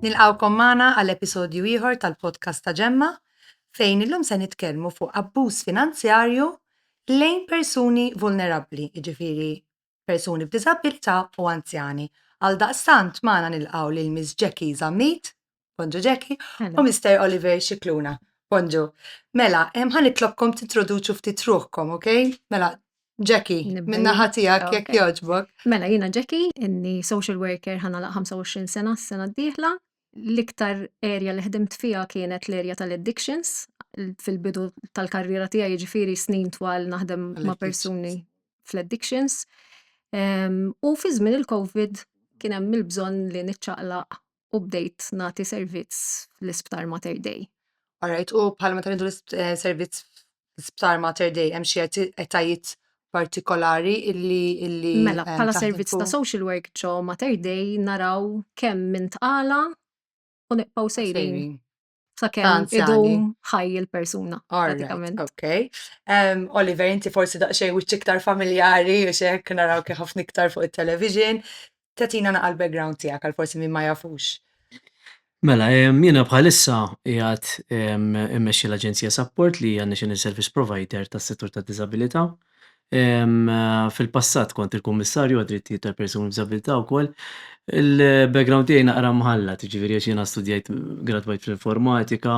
Nilqawkom magħna għal episodju ieħor tal-podcast ta' Ġemma fejn illum se nitkellmu fuq abbuż finanzjarju lejn persuni vulnerabbli, jiġifieri persuni b'diżabilità u anzjani. Għal daqstant magħna nilqgħu lil Miss Jackie Zammit. Bonġu Jackie, u Mr. Oliver Xikluna. Bonġu. Mela, ħan itlobkom tintroduċu ftit ruħkom, ok? Mela, Jackie, minna ħatijak jek joġbok. Mela, jina Jackie, inni social worker ħana la 25 sena s-sena d-dihla. L-iktar area li ħdimt fija kienet l-area tal-addictions, fil-bidu tal-karriera tija jġifiri snin twal naħdem ma' persuni fl-addictions. U fi żmien il-Covid kien hemm il-bżonn li niċċaqlaq u bdejt nagħti servizz fl-Isptar Mater Dei. Alright, u bħal meta ngħidu eh, servizz fl-Isptar Mater Dei hemm xi etajiet partikolari illi illi Mela, eh, bħala servizz ta' social work ġo Mater Dei naraw kemm minn tqala u nibqgħu sejrin. ta' kemm idum ħaj il-persuna. Pratikament. Ok. Um, Oliver, inti forsi daqxej u iktar familjari u xek naraw kif ħafna iktar fuq il-television. Tatina naqal background tijak għal forsi minn ma jafux. Mela, jiena bħalissa jgħat immexxi l-Aġenzija Support li hija National Service Provider tas-settur tad-diżabilità. Fil-passat kont il-Kummissarju għad-Drittijiet tal-Persuni b'Diżabilità wkoll. Il-background tiegħi naqra mħallat, jiġifieri għax jiena studjajt, gradwajt fl-informatika,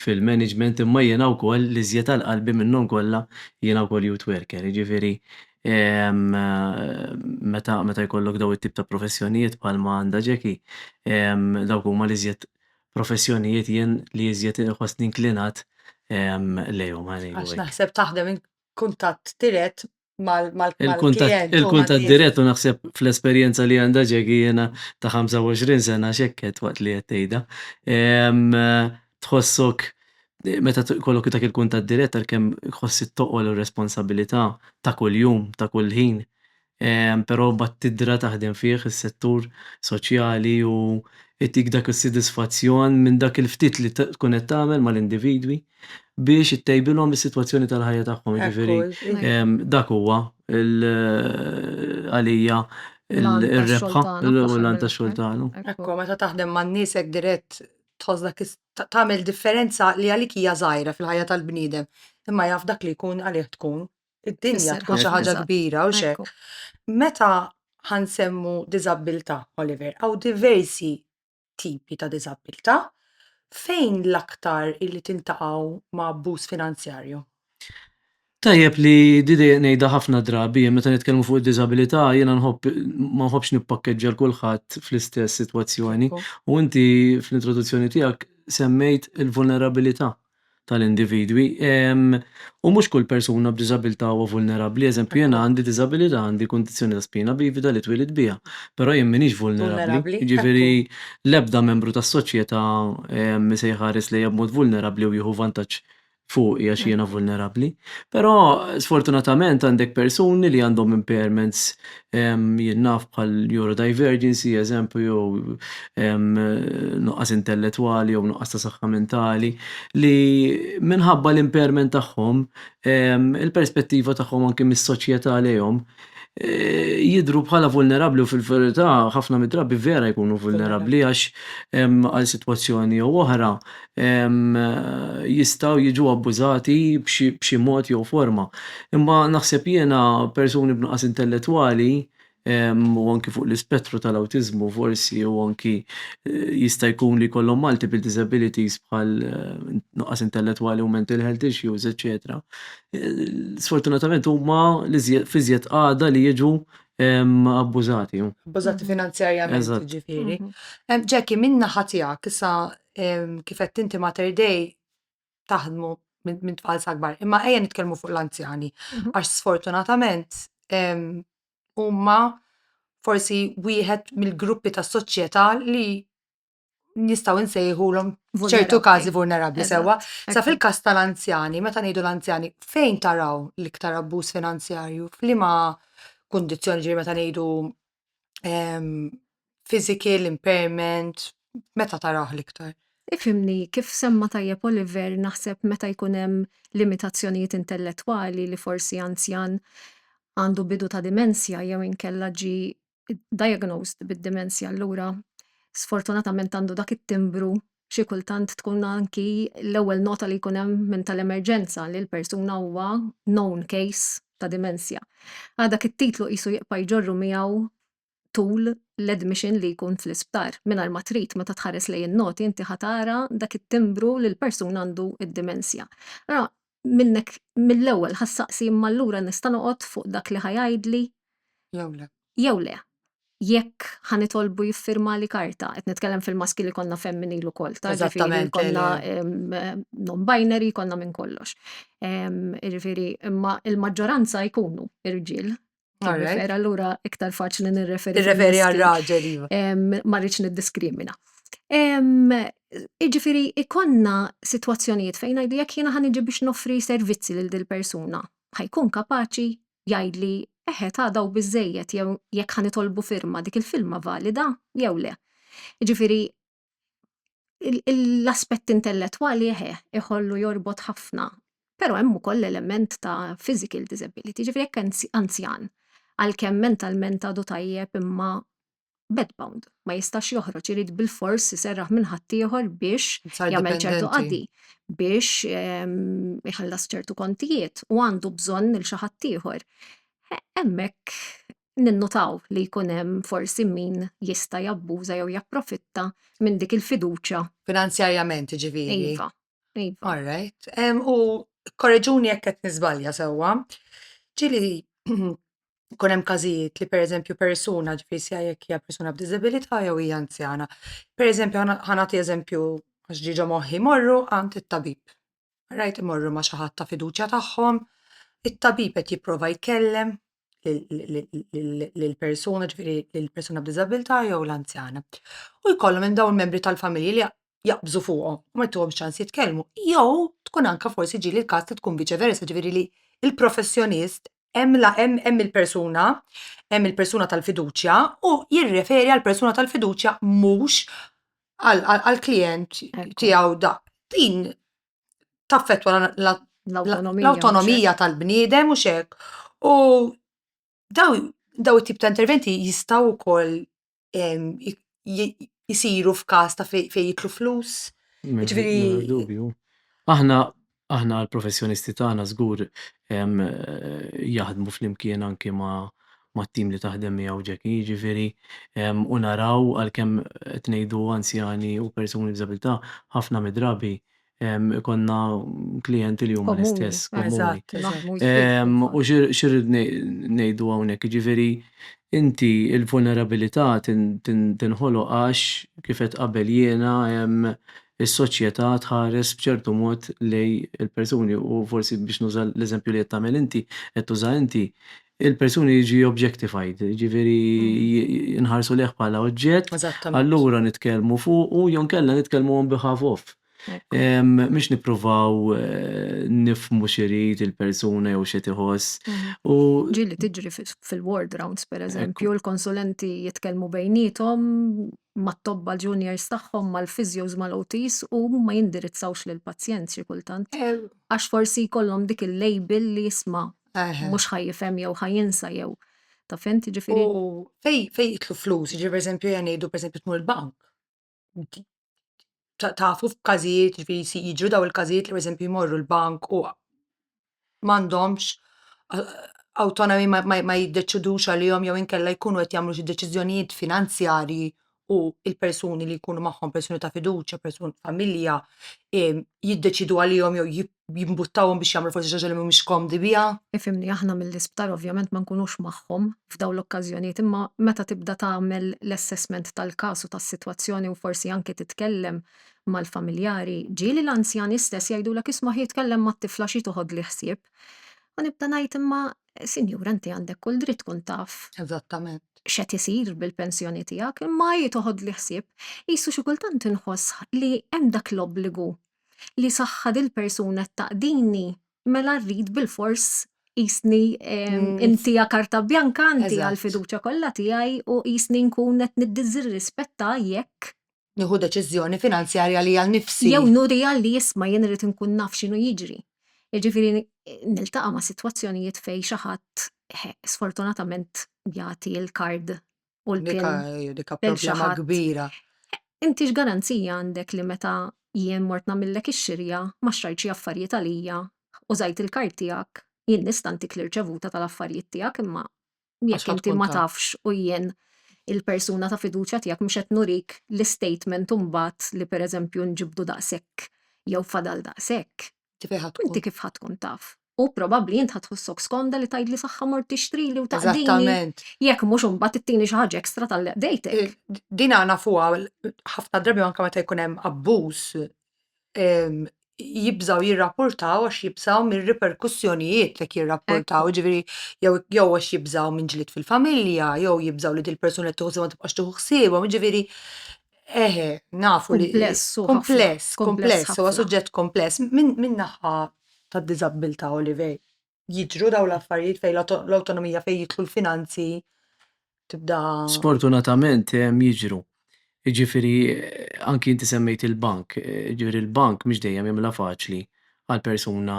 fil-management, imma jiena wkoll l-iżjed għal qalbi minnhom kollha jiena wkoll youth worker, jiġifieri meta jkollok dawn it-tip ta' professjonijiet bħalma għandha Jackie, dawk huma l-iżjed professjonijiet jien li iżjed inħossni inklinat lejhom. Għax naħseb taħdem kuntatt dirett mal-klient. Il-kuntatt dirett u naħseb fl-esperjenza li għandha ġegi jiena ta' 25 sena xekket waqt li qed tgħidha. Tħossok meta jkollok dak il-kuntatt dirett għalkemm tħoss it-toqol u r-responsabilità ta' kuljum, ta' kull ħin. però mbagħad tidra taħdem fih is-settur soċjali u jtik dak is-sodisfazzjon minn dak il-ftit li tkun qed tagħmel mal-individwi biex ittejbilhom is-sitwazzjoni tal-ħajja tagħhom. Jiġifieri dak huwa għalija r-rebħa u l-għan tax-xogħol tagħna. Ekku, meta taħdem man-nies hekk dirett tħoss dak tagħmel differenza li għalik hija żgħira fil-ħajja tal-bniedem, imma jaf dak li jkun għalih tkun id-dinja tkun xi ħaġa kbira u x'hekk. Meta ħansemmu diżabbiltà, Oliver, hawn diversi tipi ta' diżabbiltà. Fejn l-aktar illi tintaqgħu ma' abbuż finanzjarju? Tajjeb li di dejjem ngħidha ħafna drabi, meta nitkellmu fuq id-diżabilità jiena nħobb ma nħobbx nippakkeġġja lil kulħadd fl-istess sitwazzjoni u inti fl-introduzzjoni tiegħek semmejt il-vulnerabilità. tal-individwi u mhux kull persuna b'diżabilità huwa vulnerabbli. Eżempju, jiena għandi diżabilità, għandi kundizzjoni ta' spina bivida li twielidt biha, però jien m'iniex vulnerabbli. Jiġifieri l-ebda membru tas-soċjetà ma se jħares lejja b'mod vulnerabbli u jieħu vantaġġ fuqi għax jiena vulnerabbli. Però sfortunatament għandek persuni li għandhom impairments jingħaf bħal neurodivergency, eżempju, nuqqas intellettwali jew nuqqas ta' saħħa mentali, li minħabba l-impairment tagħhom, il-perspettiva tagħhom anki mis-soċjetà lejhom, jidhru bħala vulnerabbli u fil-verità ħafna mid-drabi vera jkunu vulnerabbli għax għal sitwazzjoni jew oħra jistgħu jiġu abbużati b'xi mod jew forma. Imma naħseb jiena persuni b'nuqqas intellettwali u anki fuq l-ispettru tal-awtiżmu forsi u anki jista' jkun li jkollhom multiple disabilities bħal nuqqas intellettwali u mental health issues eċċetera, sfortunatament huma f'iżjed qagħda li jiġu abbużati. Abbużati finanzjarjament jiġifieri. Jackie, min-naħa tiegħek, issa kif qed inti Mater Dei taħdmu minn tfal sagbar. Imma ejja nitkellmu fuq l-anzjani, mhm. għax sfortunatament huma forsi wieħed mill-gruppi tas soċjetà li nistaw insejħulhom ċertu każi vulnerabbli sewwa. Sa fil-każ tal-anzjani, meta ngħidu l-anzjani, fejn taraw l-iktar abbuż finanzjarju? F'liema kundizzjoni ġiri meta ngħidu ehm, physical impairment, meta taraħ l-iktar? Ifimni, kif semma tajjeb Oliver, naħseb meta jkun hemm limitazzjonijiet intellettwali li forsi anzjan għandu bidu ta' dimensja jew inkella ġi diagnosed bid-dimensja allura sfortunatament għandu dak it-timbru Xi kultant tkun anki l-ewwel nota li jkun hemm minn tal-emerġenza li l-persuna huwa known case ta' dimensja. Għal dak it-titlu qisu jibqa' jġorru miegħu tul l-admission li jkun fl-isptar. Mingħajr ma trid meta tħares lejn in-noti inti ħa tara dak it-timbru li l-persuna għandu d-dimensja. Allura minnek mill-ewwel ħa ssaqsi imma allura nista' noqgħod fuq dak li ħa jgħidli Jew le. jew le. Jekk ħa nitolbu jiffirmali karta, qed nitkellem fil-maskil ikollna femminil ukoll ta' ġifieri Eżattament, jkollna non-binary jkollna minn kollox. Jiġifieri imma l-maġġoranza jkunu rġiel Alright. Allura iktar faċli nirreferi. Nirreferi għal raġel. Iva. Ma rridx niddiskrimina. Iġifiri, ikonna situazzjonijiet fejn għajdu jekk jena ħan biex nofri servizzi lil dil persuna ħajkun kapaċi jgħidli eħe ta' daw bizzejiet jew jekk ħan itolbu firma dik il-filma valida jew le. Iġifiri, l-aspett intellettwali eħe iħollu jorbot ħafna, però hemm ukoll l-element ta' physical disability, ġifieri jekk anzjan għalkemm mentalment għadu tajjeb imma bed bound, ma jistax joħroġ irid bilfors iserraħ minn ħaddieħor biex jagħmel ċertu qadi, biex iħallas ċertu kontijiet u għandu bżonn lil xi ħaddieħor. Hemmhekk ninnutaw li jkun hemm forsi min jista' jabbuża jew japprofitta minn dik il-fiduċja. Finanzjarjament jiġifieri? Iva, iva. All right. Em, u korreġuni jekk qed niżbalja sewwa. Ġieli jkun hemm każijiet li pereżempju persuna ġifieri sija jekk hija persuna b'diżabilità jew hija anzjana. Pereżempju ħana- ħanagħti eżempju għax ġiġa moħħi morru għand it-tabib. rajt imorru ma' xi ħadd ta' fiduċja tagħhom, it-tabib qed jipprova jkellem lill-persuna, ġifieri lill-persuna b'diżabilità jew l-anzjana. U jkollhom hemm dawn il-membri tal-familja li jaqbżu fuqhom u ma jtuhomx ċans jitkellmu. Jew tkun anke forsi ġieli l-każ li tkun viċi versa, ġifieri li l-professjonist hemm hemm il-persuna, hemm il-persuna tal-fiduċja u jirreferi għall-persuna tal-fiduċja mhux għall-klijent tiegħu da. Din taffetwa l-autonomija tal-bniedem u xek. U daw it-tip ta' interventi jistaw ukoll jisiru f'każ ta' fejn jitlu flus. Aħna Aħna l-professjonisti tagħna żgur jaħdmu flimkien anki ma' mat-tim li taħdem miegħu Jackie, jiġifieri u naraw għalkemm qed ngħidu anzjani u persuni b'diżabilità, ħafna mid-drabi jkollna klijenti li huma l-istess, komuni. U x'irrid ngħidu hawnhekk, jiġifieri inti l-vulnerabilità tinħoloq għax kif għedt qabel jiena is-soċjetà tħares b'ċertu mod lejn il-persuni u forsi biex nuża l-eżempju li qed tagħmel inti, qed tuża inti, il-persuni jiġi objectified, jiġifieri nħarsu lejh bħala oġġett, allura nitkellmu fuqu jew inkella nitkellmu on behalf of. Mhux nippruvaw nifhmu x'irid il-persuna jew x'qed iħoss u. Ġieli tiġri fil-ward rounds pereżempju, il-konsulenti jitkellmu bejniethom mat-tobba juniors tagħhom, mal-physios, mal-OTs u huma jindirizzawx lill-pazjent xi kultant. Għax forsi jkollhom dik il-label li jisma' mhux ħa jifhem jew ħa jinsa jew taf int, jiġifieri. U fejn fejn jidħlu flus, jiġifieri pereżempju jien ngħidu pereżempju tmur il-bank, tafu f'każijiet jiġifieri jiġru dawn il-każijiet li pereżempju jmorru l-bank u m'għandhomx awtonomi ma jiddeċidux għalihom jew inkella jkunu qed jagħmlu xi deċiżjonijiet finanzjarji u l-persuni li jkunu magħhom, persuni ta' fiduċja, persuni ta' familja, jiddeċidu għalihom jew jimbuttawhom biex jagħmlu forsi xi ħaġa li mhumiex komdi biha. Ifhimni, aħna mill-isptar ovvjament ma nkunux magħhom f'dawn l-okkażjonijiet imma meta tibda tagħmel l-assessment tal-każ u tas-sitwazzjoni u forsi anki titkellem mal-familjari, ġieli l-anzjani stess jgħidulek isma' ħi tkellem mat-tifla xi toħodli ħsieb. U nibda ngħid imma sinjura inti għandek kull dritt tkun taf. Eżattament. X'qed isir bil-pensjoni tiegħek, imma hi toħodli ħsieb. Qisu xi kultant inħoss li hemm dak l-obbligu li saħħa dil-persuna qed taqdini mela rrid bilfors qisni intiha karta bjanka intiha l-fiduċja kollha tiegħi u qisni nkun qed niddiżirrispetta jekk nieħu deċiżjoni finanzjarja li għal nifsi. Jew nurija li jisma' jien irid inkun naf x'inhu jiġri. Jiġifieri niltaqa' ma' sitwazzjonijiet fejn xi ħadd sfortunatament jagħti l-kard u l-pin. Dika problema kbira. Inti x'garanzija għandek li meta jien mort nagħmillek ix-xirja ma xtrajt xi affarijiet għalija, użajt il-kard tiegħek, jien nista' ntik l-irċevuta tal-affarijiet tiegħek imma jekk inti ma tafx u jien il-persuna ta' fiduċja tiegħek mhux qed nurik l-istatement imbagħad li pereżempju nġibdu daqshekk jew fadal daqshekk, inti kif ħa tkun taf? U probabbli int ħa tħossok skomda li tgħidli saħħa mort tixtrili u taqdini jekk mhux imbagħad ittini xi ħaġa ekstra tal-li qdejtek. Din nafuha ħafna drabi anke meta jkun hemm abbuż jibżgħu jirrapportaw għax jibżgħu mir-riperkussjonijiet jekk jirrapportaw, ġifieri jew jew għax jibżgħu minn ġlied fil-familja, jew jibżgħu li dil-persuna qed tieħu ħsiebhom ma tibqax tieħu ħsiebhom, ġifieri eħe nafu li. Kumpless hu ħafna. Kumpless, kumpless, huwa suġġett kumpless minn naħa tad-diżabbiltà, Olivej. jiġru dawn l-affarijiet fejn l-awtonomija fejn jidħlu l-finanzi tibda. Sfortunatament hemm jiġru. Jiġifieri anki inti semmejt il-bank, jiġifieri l-bank mhux dejjem jagħmilha faċli għal persuna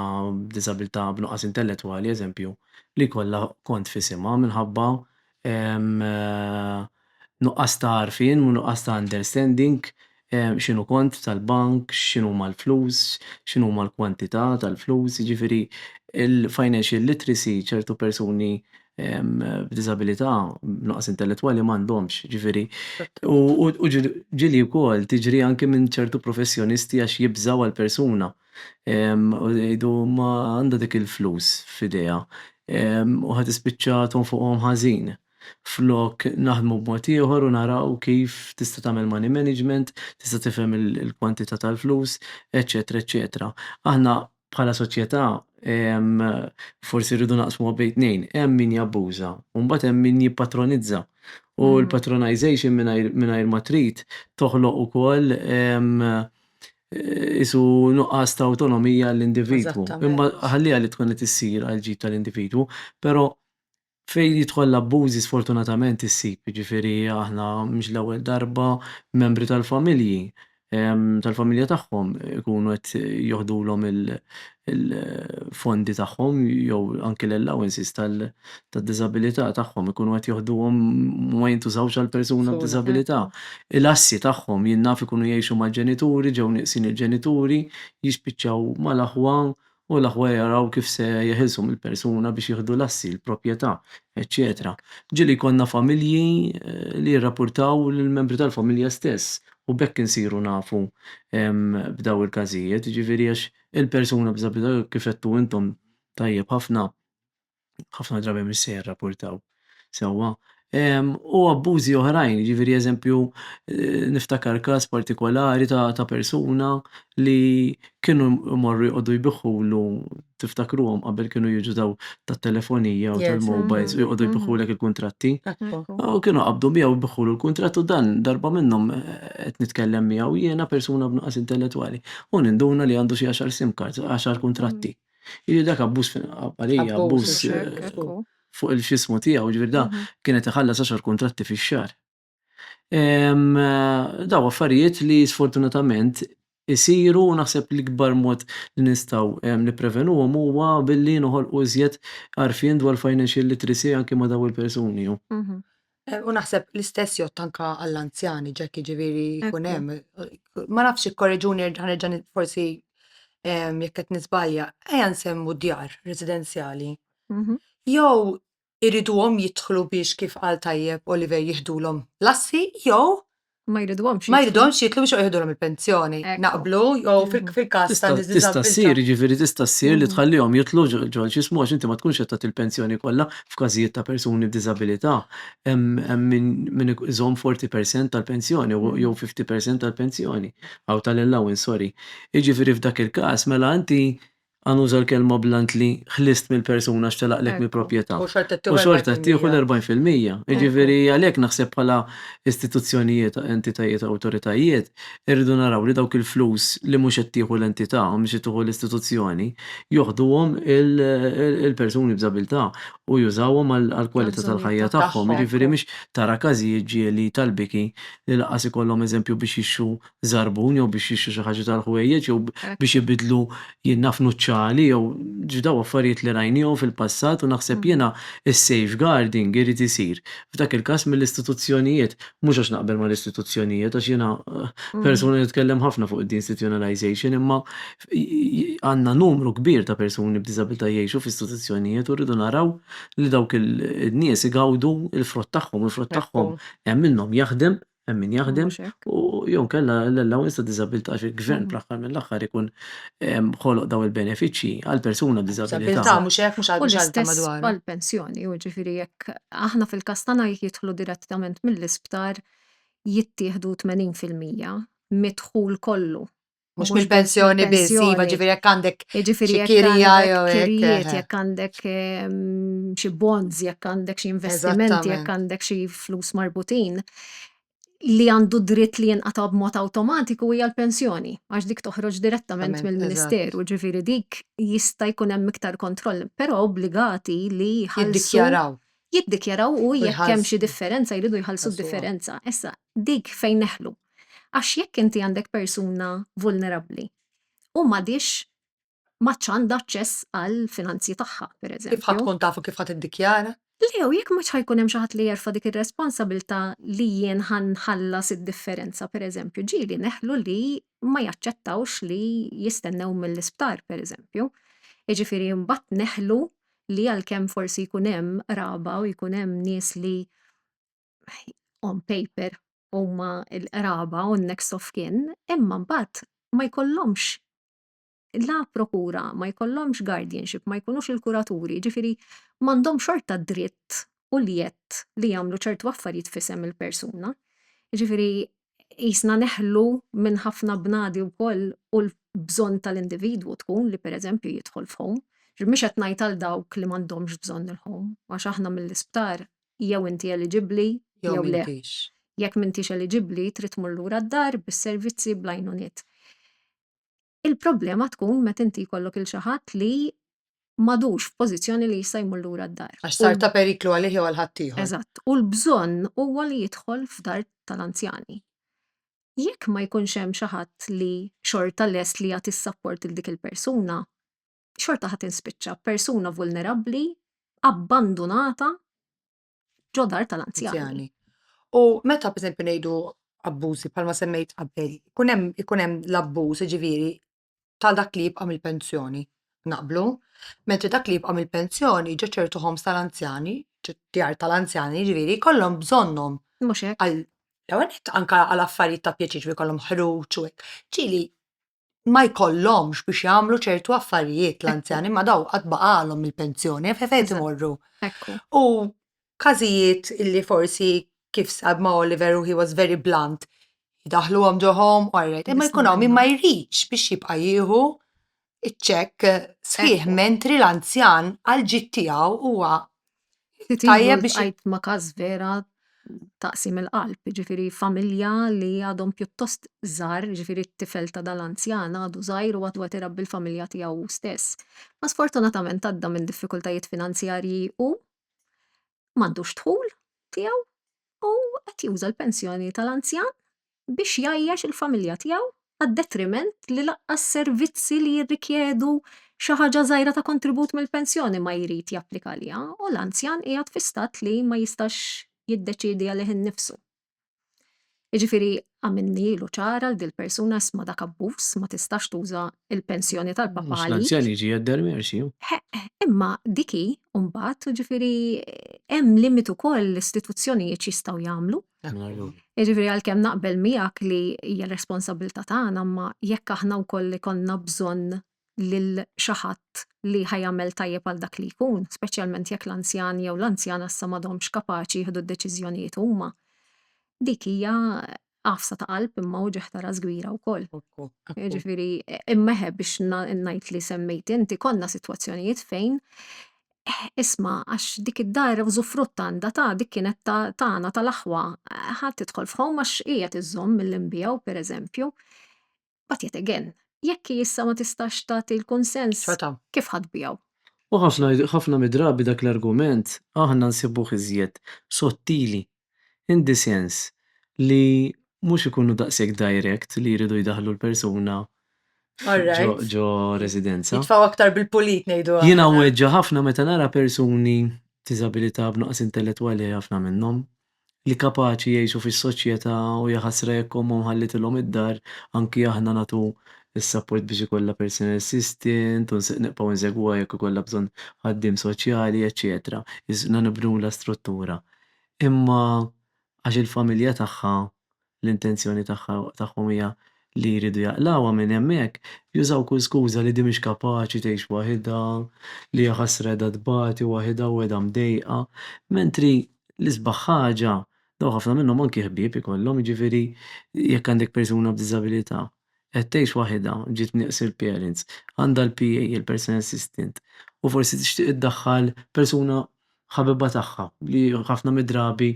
b'diżabilità b'nuqqas intellettwali eżempju li jkollha kont f'isimha minħabba hemm nuqqas ta' għarfien u nuqqas ta' understanding x'inhu kont tal-bank, x'inhuma l-flus, x'inhuma l-kwantità tal-flus, jiġifieri l-financial literacy ċertu persuni b'diżabilità, b'nuqqas intellettwali m'għandhomx, jiġifieri. U ġieli wkoll tiġri anki minn ċertu professjonisti għax jibżgħu għall-persuna. u jgħidu imma għandha dik il-flus f'idejha u ħa tispiċċa tonfoqhom ħażin. Flok naħdmu b'mod ieħor u naraw kif tista' tagħmel money management, tista' tifhem il-kwantità tal-flus, eċċetera eċċetera. Aħna bħala soċjetà forsi rridu naqsmuha bejn tnejn, hemm min jabbuża u mbagħad hemm min jippatronizza. U l-patronisation mingħajr ma trid toħloq ukoll qisu nuqqas ta' awtonomija għall-individwu. Imma ħalliha li tkun qed issir għal ġid tal-individwu, però fejn jidħol l-abbużi sfortunatament issib, jiġifieri aħna mhix l-ewwel darba membri tal-familji tal-familja tagħhom ikunu qed joħdulhom il-fondi tagħhom jew anki l-allowances tad-diżabilità tagħhom ikunu qed joħduhom ma jintużawx għal persuna b'diżabilità. Il-assi tagħhom jien naf ikunu jgħixu mal-ġenituri, ġew nieqsin il-ġenituri, jispiċċaw mal-aħwa u l-aħwa jaraw kif se jeħilsu mill-persuna biex jieħdu l-assi, il-proprjetà, eċċetera. Ġieli jkollna familji li jirrapurtaw lill-membri tal-familja stess u b'hekk insiru nafu b'dawn il-każijiet, jiġifieri għax Il-persuna b'diżabilità kif għedtu intom tajjeb ħafna, ħafna drabi mhix se jirrapportaw sewwa. Ehm, u abbużi oħrajn, jiġifieri eżempju eh, niftakar każ partikolari ta', ta persuna li kienu morru jqogħdu jbiħħulu tiftakruhom qabel kienu jiġu daw tat-telefonija u Yes, tal-mobiles u mhm, jqogħdu mhm. jbiħħulek il-kuntratti. Ekku. U kienu qabdu miegħu biħulu l-kuntratt u dan darba minnhom eh, qed nitkellem miegħu jiena persuna b'nuqqas intellettwali. U ninduna li għandu xi għaxar sim cards, għaxar kuntratti. Jiġifieri dak abbuż fil-qabbalija, abbuż fuq il-xismu tiegħu, ġifieri da mhm. kienet iħallas għaxar kuntratti fix-xahar. Daw affarijiet li sfortunatament isiru u naħseb li kbar mod li nistaw niprevenuhom huwa billi noħolqu iżjed għarfien dwar financial literacy anke ma daw il-persuni. Mhm. Eh, u naħseb l-istess jott anka għall-anzjani, ġekki ġiviri kunem. Ma nafx korreġuni ġan forsi jekk qed nisbalja, ejja nsemmu djar residenzjali. Mhm. Jew iriduhom jidħlu biex kif qal tajjeb Oliver jihdulhom lassi, jew Ma jridhomx. Ma jridhomx jitlu biex joqgħodhom il-pensjoni. Naqblu, jew mm. fil-każ ta' Tista' ssir, jiġifieri tista' ssir li mm. tħallihom jitlu ġol xismu għax inti ma tkunx qed tagħti l-pensjoni kollha f'każijiet ta' persuni b'diżabilità. Hemm min iżomm 40% tal-pensjoni mm. jew 50% tal-pensjoni, aw tal-allowance, sorry. Jiġifieri f'dak il-każ mela inti Għan uża l-kelma bl-għan li ħlist mill-persuna għax telaqlek mill-proprjetà. U xorta ttieħu l-40%. U xorta ttieħu l-40 fil-mija. Jiġifieri għalhekk naħseb bħala istituzzjonijiet, entitajiet, awtoritajiet, irridu naraw li dawk il-flus li mhux qed tieħu l-entità, mhux qed tieħu l-istituzzjoni, joħduhom il-persuni b'diżabilità u jużawhom għall-kwalità tal-ħajja tagħhom. Jiġifieri mhux tara każijiet ġieli tal-biki li lanqas ikollhom eżempju biex jixtru żarbun jew biex jixtru xi ħaġa tal-ħwejjeġ jew biex ibiddlu jinnaf nuċċali jew ġdaw affarijiet li rajnihom fil-passat u naħseb jiena s-safeguarding irid isir f'dak il-każ mill-istituzzjonijiet mhux għax naqbel mal-istituzzjonijiet għax jiena persuna li nitkellem ħafna fuq id-deinstitutionalization imma għandna numru kbir ta' persuni b'diżabilità jgħixu f'istituzzjonijiet u rridu naraw li dawk in-nies igawdu l-frott tagħhom u l-frott tagħhom hemm minnhom jaħdem hemm min jaħdem u jew kella l-allowance ta' disabilità xi gvern mhm. fl-aħħar mill-aħħar ikun ehm, ħoloq daw il-benefiċċji għal persuna b'diżabilità. Mhux hekk mhux għal xalta madwar. Għal pensjoni, u ġifieri jekk aħna fil-kastana jidħlu direttament mill-isptar jittieħdu 80% midħul kollu Mux mill-pensjoni biss, iva ġifiri jek għandek ġifiri jek kirijiet, jek għandek xie bonds, jek għandek xie investimenti, jek għandek xie flus marbutin li għandu dritt li jenqata b'mod automatiku hija l-pensjoni, għax dik toħroġ direttament mill-Ministeru, ġifiri dik jista' jkun hemm iktar kontroll, però obbligati li jiddikjaraw. Jiddikjaraw u jekk hemm xi differenza jridu jħallsu differenza. Issa dik fejn neħlu. Għax jekk inti għandek persuna vulnerabbli u m'għadhiex m'għadx għandha aċċess għall-finanzji tagħha, pereżempju. Kif ħa tkun taf u kif ħa tiddikjara? Le, u jekk m'għadx ħa jkun hemm xi ħadd li jerfa' dik ir-responsabilità li jien ħa nħallas id-differenza, pereżempju, ġieli neħlu li ma jaċċettawx li jistennew mill-isptar, pereżempju. Jiġifieri mbagħad neħlu li għalkemm forsi jkun hemm qraba u jkun hemm nies li on paper huma l-qraba u n-next of kin, imma mbagħad ma jkollhomx la prokura, ma jkollhomx guardianship, ma jkunux il-kuraturi, ġifiri m'għandhom xorta dritt u l-jett li jagħmlu ċertu affarijiet fisem il-persuna. Ġifiri, jisna neħlu minn ħafna bnadi wkoll u l-bżonn tal-individwu tkun li pereżempju jidħol f'home. Mhux qed ngħid għal dawk li m'għandhomx bżonn il-home, għax aħna mill-isptar jew inti eliġibbli jew le. Jekk m'intix eliġibbli, trid tmur lura d-dar bis-servizzi bl-għajnuniet. Il-problema tkun meta inti jkollok il xi ħadd li m'għadux f'pożizzjoni li jista' jmur lura d-dar. Għax sar ta' periklu għalih jew għal ħaddieħor. Eżatt, u l-bżonn huwa li jidħol f'dar tal-anzjani. Jekk ma jkunx hemm xi ħadd li xorta lest li jagħti s-sapport lil dik il-persuna, xorta ħa tinspiċċa persuna vulnerabbli abbandunata ġo dar tal-anzjani. U meta pereżempju ngħidu abbużi bħalma semmejt qabel, ikun hemm ikun hemm l-abbuż ġifieri ta' dak li jibqa' mill-pensjoni naqblu, mentri dak li jibqa' mill-pensjoni ġo ċertu ħoms tal-anzjani, djar tal-anzjani ġifieri jkollhom bżonnhom. Mhux hekk. L-ewwel anke għal affarijiet ta' pjaċir ġifieri jkollhom ħruġ u hekk. Ġieli ma jkollhomx biex jagħmlu ċertu affarijiet l-anzjani ma daw qatt baqalhom il-pensjoni fejn imorru. U każijiet illi forsi kif sab ma' Oliver u he was very blunt, daħluhom ġohom u għarret, imma jkun hawn min ma jridx biex jibqa' jieħu iċ-ċekk sħiħ mentri l-anzjan għal ġid tiegħu huwa Tajjeb biex għajt ma każ vera taqsim il-qalb, ġifiri familja li għadhom pjuttost żgħar, ġifiri t-tifel ta' dal-anzjan għadu żgħir u għadu qed irabbi l-familja tiegħu hu stess. Ma sfortunatament għadda minn diffikultajiet finanzjarji u m'għandux dħul tiegħu u qed juża l-pensjoni tal-anzjan biex jgħajjax il-familja tiegħu għad-detriment li lanqas servizzi li jirrikjedu xi ħaġa żgħira ta' kontribut mill-pensjoni ma jrid japplika għaliha u l-anzjan qiegħed fi stat li ma jistax jiddeċiedi għalih innifsu. Jiġifieri għamilni ilu ċar għal dil-persuna isma' dak abbuż ma tistax tuża l-pensjoni tal-papà għalik. Mhux l-anzjan jiġi jgħedder merxi. Ħeqq, imma dik hi mbagħad, jiġifieri hemm limit ukoll l-istituzzjonijiet x'jistgħu jagħmlu. Jiġifieri għalkemm naqbel miegħek li hija l-responsabbiltà tagħna imma jekk aħna wkoll ikollna bżonn lil xi ħadd li ħa jagħmel tajjeb għal dak li jkun, speċjalment jekk l-anzjan jew l-anzjana issa m'għadhomx kapaċi jieħdu d-deċiżjonijiet huma, dik hija għafsa ta' qalb imma u ġieħ ta' ras kbira wkoll. Jiġifieri imma eħe biex ngħid li semmejt inti konna sitwazzjonijiet fejn Eh, isma', għax dik id-dar użufrutt għandha ta' dik kienet ta' tagħna tal-aħwa. Eh, Ħa tidħol f'home għax hi qed iżżomm milli nbigħu, pereżempju. But yet again, jekk hi issa ma tistax tagħti l-kunsens, Ċata. kif ħa tbigħu? U ħafna, ħafna mid-drabi dak l-argument aħna nsibuh iżjed sottili in the sense li mhux ikunu daqshekk direct li jridu jdaħħlu l-persuna ġo residenza. Jitfgħu aktar bil-pulit ngħidu aħna. Jiena nweġġa' ħafna meta nara persuni b'diżabilità b'nuqqas intellettwali ħafna minnhom li kapaċi jgħixu fis-soċjetà u jaħasra jekk ommhom ħallitilhom id-dar anki aħna nagħtu s-sapport biex ikollha personal assistant u nibqgħu nsegwuha jekk ikollha bżonn ħaddiem soċjali eċċetera. Isna nibnulha struttura. Imma għax il-familja tagħha, l-intenzjoni tagħha, tagħhom hija li jridu jaqlgħuha minn hemmhekk, jużaw kull skuża li di mhix kapaċi tgħix waħidha, li jaħasra qiegħda tbati waħidha u qiegħda mdejqa. Mentri l-isbaħ ħaġa, dawn ħafna minnhom anki ħbieb ikollhom, jiġifieri jekk għandek persuna b'diżabilità, Qed tgħix waħidha, ġiet nieqs il-parents, għandha l-PA, il-personal assistant, u forsi tixtieq iddaħħal persuna ħabibha tagħha li ħafna mid-drabi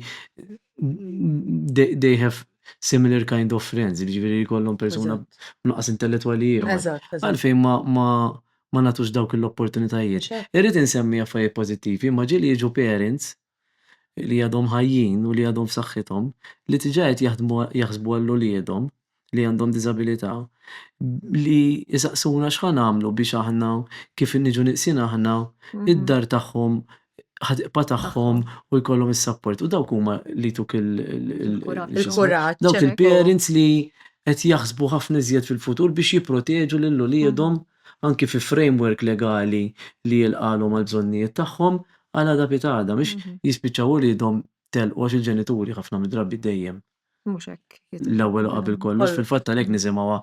they have similar kind of friends, jiġifieri jkollhom persuna b'nuqqas intellettwali ieħor. Għalfejn ma nagħtux dawk l-opportunitajiet. Irrid insemmi affarijiet pożittivi, imma ġieli jiġu parents, li għadhom ħajjin u li għadhom f'saħħithom, li diġà qed jaħdmu jaħsbu għal uliedhom li għandhom diżabilità, li jsaqsuna x'ħa nagħmlu biex aħna kif niġu nieqsin aħna, id-dar tagħhom ħa tibqa' tagħhom u jkollhom is-sapport. U dawk huma li jtuk il-kuraġġ. Dawk il-parents li qed jaħsbu ħafna iżjed fil-futur biex jipproteġu lil uliedhom anki fi framework legali li jilqagħlhom għall-bżonnijiet tagħhom għal għada pitgħada, biex jispiċċaw uliedhom telqu għax il-ġenituri ħafna mid-drabi dejjem. Mhux hekk. L-ewwel u qabel kollox, fil-fatt għalhekk nisimgħuha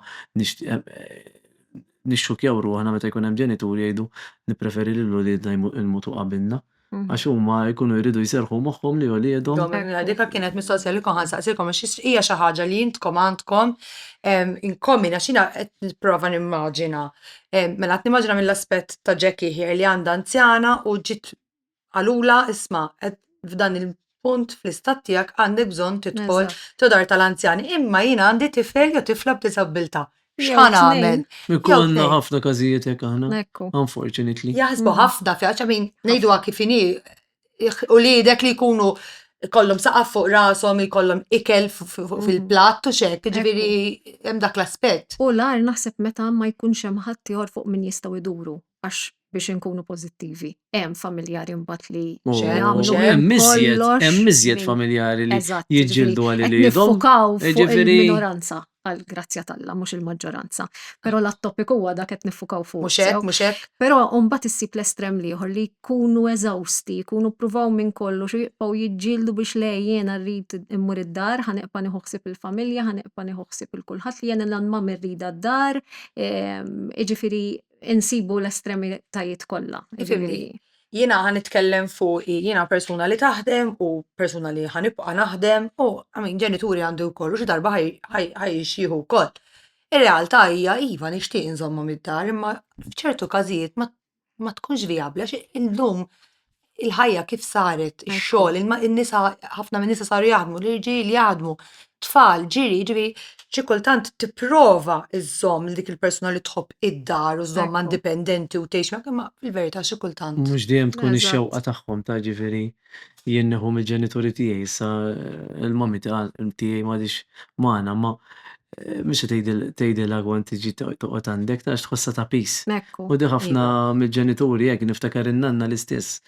nixxukjaw ruħna meta jkun hemm ġenituri jgħidu nippreferi li l-uliedna jmutu qabilna. Għax huma jkunu jridu jserrħu moħħhom li uliedhom. Domenica, Dik kienet mistoqsija li kont ħa nsaqsilkom għax hija xi ħaġa li intkom għandkom in common għax jiena qed nipprova nimmaġina. Mela qed nimmaġina mill-aspett ta' Jackie here li għandha anzjana u ġiet qalulha isma' qed f'dan punt fl-istat tiegħek għandek bżonn tidħol ġo dar tal-anzjani. Imma jiena għandi tifel jew tifla b'diżabbiltà. X'ħa nagħmel? Ikollna ħafna każijiet hekk aħna. Unfortunately. Jaħsbu ħafna fiha xa min ngħiduha kif inhi u lidek li jkunu kollhom saqaf fuq rashom, jkollhom ikel fil-platt u xek, ġifieri hemm dak l-aspett. U l-għar naħseb meta ma jkunx hemm ħadd ieħor fuq min jistgħu jduru. għax biex inkunu pożittivi. Hemm familjari mbagħad li oh, jagħmlu hemm miżjed, hemm miżjed familjari li jiġġieldu għal li Nifukaw fuq il-minoranza għal grazzja talla, mhux il-maġġoranza. Però l-topic huwa dak qed nifukaw fuq. Mhux hekk, mhux hekk. Però mbagħad issib l-estrem liħor li jkunu eżawsti, jkunu pruvaw minn kollu xi jibqgħu jiġġieldu biex le jiena rrid immur id-dar, ħaneqpa niħuħsib il-familja, ħaneqpa niħuħsib il-kulħadd li jiena l-anma mirrida d-dar, ehm, iġifieri insibu l-estremitajiet kollha. Ġifieri, jiena ħa nitkellem fuqi, jiena persuna li taħdem u persuna li ħa nibqa' naħdem u għamin ġenituri għandi wkoll u xi darba ħaj jixjieħu wkoll. Ir-realtà hija iva nixtieq inżommhom id-dar imma f'ċertu każijiet ma tkunx vijabbli għax illum il-ħajja kif saret, ix-xogħol, in-nisa, ħafna minn nisa saru jaħdmu, l-irġiel jaħdmu, tfal, ġiri, ġiri, xi kultant tipprova iżżomm dik il-persuna li tħobb id-dar u żomm indipendenti u tgħix miegħek, imma fil-verità xi kultant. Mhux dejjem tkun ix-xewqa tagħhom ta' ġifieri jien nieħu mill-ġenituri tiegħi issa l-mommy tiegħi m'għadhiex magħna, imma Mhux se tgħidilha kont tiġi toqgħod għandek, għax tħossha ta' pis. Ekku. U di ħafna iva. mill-ġenituri hekk, niftakar in-nanna l-istess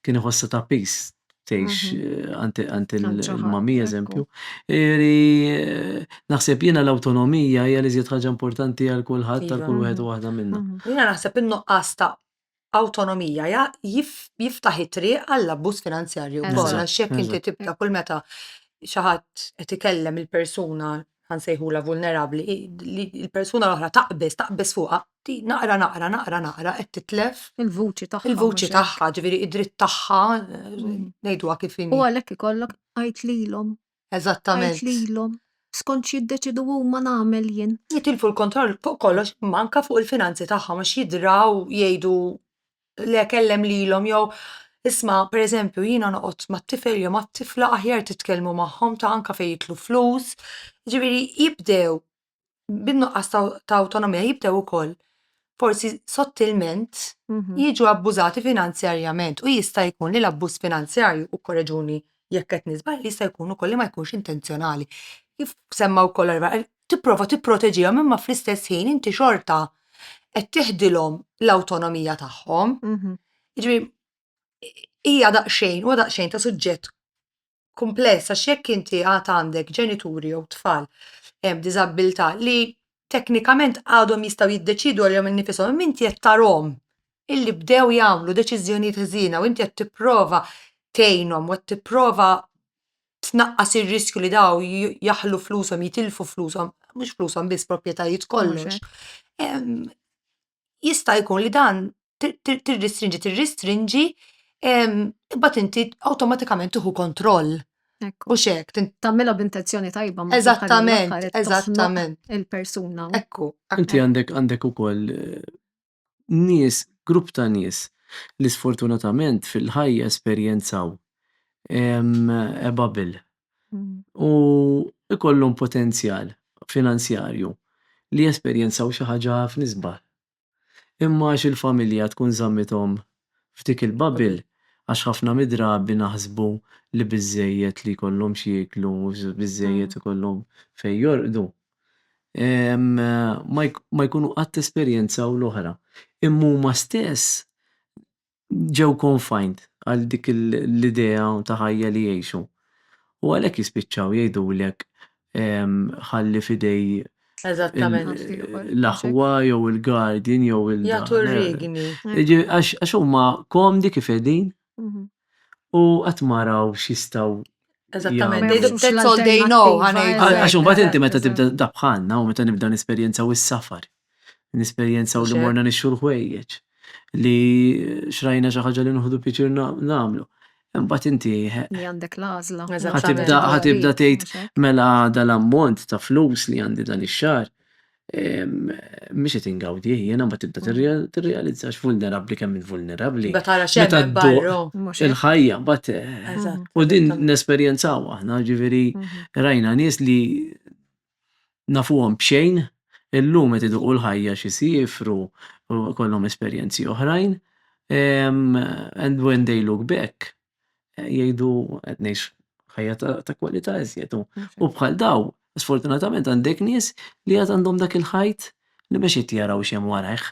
kien iħossha ta' pis tgħix għand għand il- Għand xi ħadd, mammi ekku. eżempju. Eri, naħseb jiena l-awtonomija hija l-iżjed ħaġa importanti għal kulħadd, għal kull Iva. wieħed u waħda minna. Jiena naħseb in-nuqqas ta' awtonomija jiftaħ it-triq għall-abbuż finanzjarju wkoll għax jekk inti tibda kull meta xi ħadd qed ikellem il-persuna ħa nsejħulha vulnerabbli, il-persuna l-oħra taqbeż, taqbeż fuqha, naqra naqra naqra naqra qed titlef il-vuċi tagħha. Il-vuċi tagħha, ġifieri id-dritt tagħha ngħiduha kif inhi. U għalhekk ikollok għid lilhom Eżattament. Għid lilhom, skont x'jiddeċidu huma nagħmel jien. Jitilfu l-kontroll fuq kollox imma anke fuq il-finanzi tagħhom għax jidraw jgħidu le kellem lilhom jew isma' pereżempju jiena noqgħod mat-tifel jew mat-tifla aħjar titkellmu magħhom ta' anke fejn jitlu flus. Jiġifieri jibdew bin-nuqqas ta' awtonomija jibdew ukoll forsi sottilment mhm. jiġu abbużati finanzjarjament u jista' jkun li l-abbuż finanzjarju u korreġuni jekk qed nisbal jista' jkun ukoll li ma jkunx intenzjonali. Kif semma wkoll tipprova tipproteġihom imma fl-istess ħin inti xorta qed tiħdilhom l-awtonomija tagħhom. Mhm. Jiġri hija daqsxejn u daqsxejn ta' suġġett kumpless għax jekk inti għad għandek ġenituri jew tfal b'diżabbiltà li teknikament għadhom jistgħu jiddeċiedu għalihom innifishom imma inti qed tarahom illi bdew jagħmlu deċiżjonijiet ħżiena u inti qed tipprova tgħinhom u qed tipprova tnaqqas ir-riskju li dawn jaħlu flushom, jitilfu flushom, mhux flushom biss, proprjetajiet kollox, jista' jkun li dan tirristrinġi, tirristrinġi, imbagħad inti awtomatikament tieħu kontroll. Mhux hekk. Tagħmilha b'intenzjoni tajba ma Eżattament, eżattament. Il-persuna. Ekku. Inti għandek għandek ukoll eh, nies, grupp ta' nies li sfortunatament fil-ħajja esperjenzaw eh, bubble u jkollhom potenzjal finanzjarju li jesperjenzaw xi ħaġa ħafna isbaħ. Imma għax il-familja tkun żammithom f'dik il-bubble, għax ħafna mid-drabi naħsbu li biżżejjed li jkollhom x'jieklu, biżżejjed ikollhom fejn jorqdu, ma jkunu qatt esperjenzaw l-oħra. Imma huma stess ġew confined għal dik l-idea ta' ħajja li jgħixu. U għalhekk jispiċċaw jgħidulek ħalli f'idej l-aħwa jew il-guardian jew il Jagħtu r-riegni. Għax huma komdi kif qegħdin mhm. u qatt ma raw x'jistgħu Eżattament, that's all they know. Għax imbagħad inti meta tibda dabħanna u meta nibda nesperjenza u s-safar. Nesperjenzaw li morna nixxu l-ħwejjeġ, li xrajna xi ħaġa li nħudu pjaċir nagħmlu. Imbagħad inti li għandek l-għażla. Ħatibda ħatibda tgħid mela dal-ammont ta' flus li għandi dan ix-xahar mhix qed ingawdi jiena ma tibda tirrealizzax vulnerabbli kemm vulnerabbli. Meta tara xejn barru. Il-ħajja bat u din nesperjenzaw aħna ġifieri rajna nies li nafuhom b'xejn, illum qed iduqu l-ħajja xi jsiefru u jkollhom esperjenzi oħrajn, and when they look back jgħidu qed ngħix ħajja ta' kwalità iżjed. U bħal dawn, sfortunatament għandek nies li għad għandhom dak il-ħajt li mhux qed jaraw x'hemm warajh.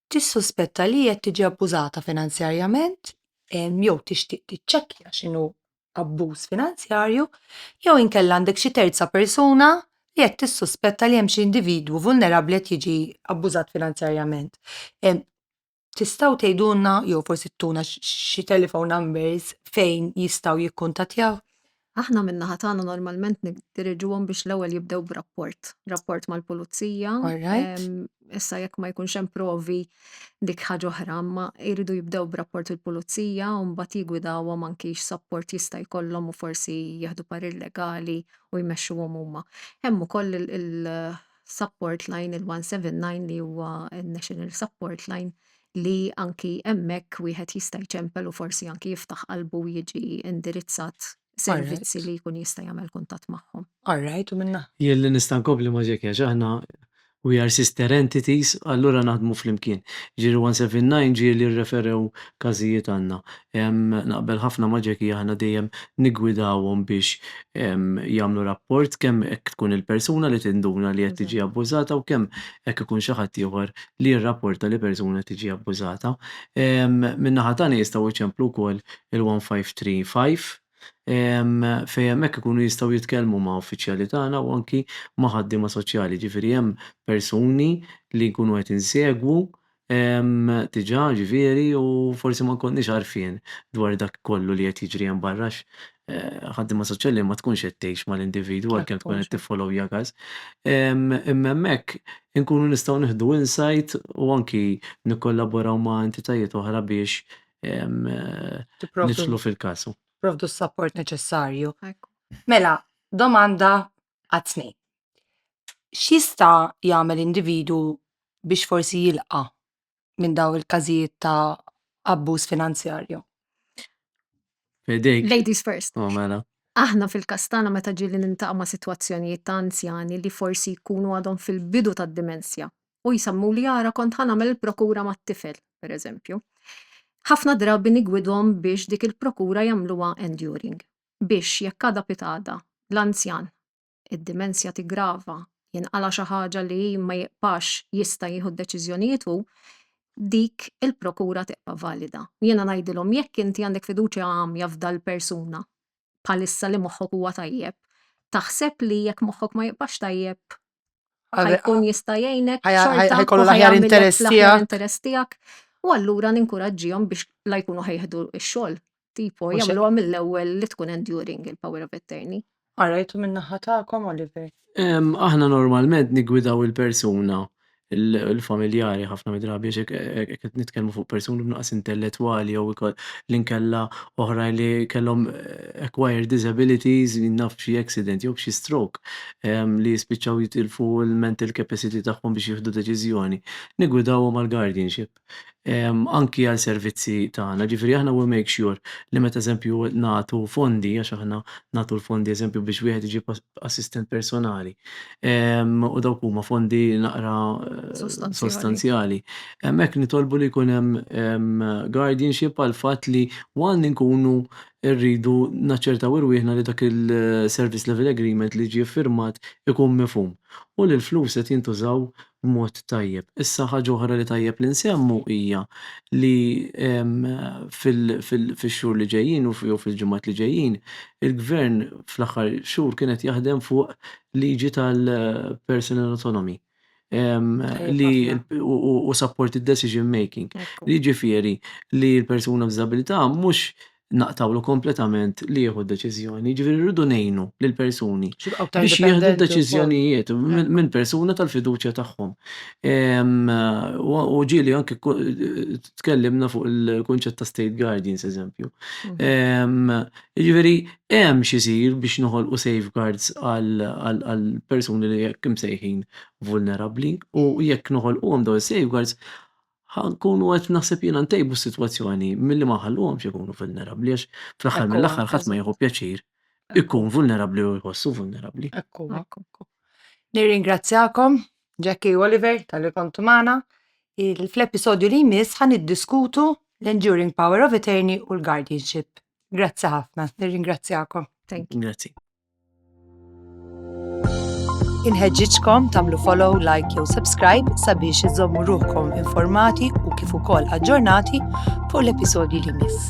tissuspetta li qed tiġi abbużata finanzjarjament jew tixtieq tiċċekkja x'inhu abbuż finanzjarju, jew inkella għandek xi terza persuna li qed tissuspetta li hemm xi individwu vulnerabbli qed jiġi abbużat finanzjarjament. Tistgħu tgħidulna jew forsi tuna xi telephone numbers fejn jistgħu jikkuntattjaw? Aħna min-naħa tagħna normalment niddiriġuhom biex l-ewwel jibdew b'rapport, rapport mal-pulizija. All right. Ehm, Issa jekk ma jkunx hemm provi dik ħaġa oħra, imma jridu jibdew b'rapport il-pulizija u mbagħad jigwidawhom anki x'sapport jista' jkollhom u forsi jieħdu parir legali u jmexxuhom huma. Hemm ukoll il- il- support line, il-179 li huwa n-national support line li anki hemmhekk wieħed jista' jċempel u forsi anki jiftaħ qalbu jiġi indirizzat servizzi li jkun jista' jagħmel kuntatt magħhom. All right, u minna. Jien li nista' nkompli ma' Jackie għax aħna we are sister entities allura naħdmu flimkien. Ġieli 179 ġieli rreferew każijiet għandna. Naqbel ħafna ma' Jackie, aħna dejjem niggwidawhom biex jagħmlu rapport kemm jekk tkun il-persuna li tinduna li qed tiġi abbużata u kemm jekk ikun xi ħadd ieħor li jirrapporta li persuna qed tiġi abbużata. Min-naħa tagħna jistgħu jċemplu wkoll il-one five three five fejn hemmhekk ikunu jistgħu jitkellmu ma' uffiċjali tagħna u anki ma' ħaddiema soċjali. Jiġifieri hemm persuni li nkunu qed insegwu Ehm, diġà, ġifieri, u forsi ma nkollniex għarfien dwar dak kollu li qed jiġri hemm barra għax eh, ħaddiema soċjali ma tkunx qed tgħix mal-individwu Dak għalkemm tkun huwa qed xogħol. tiffollow jagas. Ehm, imma hemmhekk inkunu nistgħu nieħdu insight u anki nikkollaboraw ma' entitajiet oħra biex ehm, eh, Tipprovdu niġlu fil-każ. tipprovdu s-sapport neċessarju. Hekk hu. Mela, domanda għat-tnejn. X'jista' jagħmel individwu biex forsi jilqa' minn dawn il-każijiet ta' abbuż finanzjarju? Fidejk. Ladies first. Oh, mela. Aħna fil-każ tagħna meta ġieli niltaqa' ma' sitwazzjonijiet ta' anzjani li forsi jkunu għadhom fil-bidu tad-dimensja u jsemmuli ara kont ħa nagħmel il-prokura mat-tifel, pereżempju. Ħafna drabi nigwidhom biex dik il-prokura jagħmluha enduring. biex jekk għada pitgħada l-anzjan id-dimensja tiggrava, jinqala' xi ħaġa li ma jibqax jista' jieħu d-deċiżjonijiet hu, dik il-prokura tibqa' valida. U jiena ngħidilhom jekk inti għandek fiduċja għamja f'dal-persuna bħalissa li moħħok huwa tajjeb, taħseb li jekk moħħok ma jibqax tajjeb ħajkun jista' jgħinek xorta u ħajamillek fl-aħjar interess tiegħek u allura ninkuraġġihom biex la jkunu ħejħdu x-xogħol tipo jagħmluha mill-ewwel li tkun enduring il-power of attorney. Qarajtu min-naħa tagħkom Oliver? Aħna normalment niggwidaw il-persuna l-familjari ħafna midrabi xek qed nitkellmu fuq persuni b'naqas intellettwali jew li nkella oħra li kellhom eh, acquired disabilities naf xi accident jew xi stroke. li jispiċċaw jitilfu l-mental capacity tagħhom biex jieħdu deċiżjoni, niggwidawhom għall-guardianship. Anki għal servizzi tagħna, ġifieri aħna we make sure li meta eżempju nagħtu fondi, għax aħna nagħtu l-fondi eżempju biex wieħed iġib assistent personali, u dawk huma fondi naqra sostanzjali, hemmhekk nitolbu li jkun hemm guardianship għall-fatt li one inkunu irridu naċċertaw irwieħna li dak il-service level agreement li jiġi ffirmat ikun mifhum u li l-flus qed jintużaw b'mod tajjeb. Issa ħaġa oħra li tajjeb li nsemmu hija li fix-xhur li ġejjin jew fil-ġimgħat li ġejjin il-Gvern fl-aħħar xhur kien qed jaħdem fuq liġi tal-personal autonomy. li u support il-decision making. Li ġifiri li l-persuna b'disabilità mhux naqtawlu kompletament li jieħu deċiżjoni, ġifiri rridu nejnu l-persuni biex jieħdu deċiżjonijiet minn persuna tal-fiduċja tagħhom. U ġieli anke tkellimna fuq il-kunċett ta' state guardians, eżempju. Ġifiri, hemm x'isir biex noħolqu safeguards għall-persuni li hekk imsejħin vulnerabbli u jekk noħolquhom dawn is-safeguards ħa nkunu qed naħseb jiena ntejbu s-sitwazzjoni milli ma nħalluhomx ikunu vulnerabbli għax fl-aħħar mill-aħħar ħadd ma jieħu pjaċir ikun vulnerabbli jew iħossu vulnerabbli. Hekk huwa. Nirringrazzjakom Jackie u Oliver tal-li kontu magħna. Il- Fl-episodju li jmiss ħa niddiskutu l-enduring power of attorney u l-guardianship. Grazzi ħafna, nirringrazzjakom. Thank you. Grazzi. Inħeġġiġkom tagħmlu follow, like jew subscribe sabiex iżommu ruħkom informati u kif ukoll aġġornati fuq l-episodji li miss.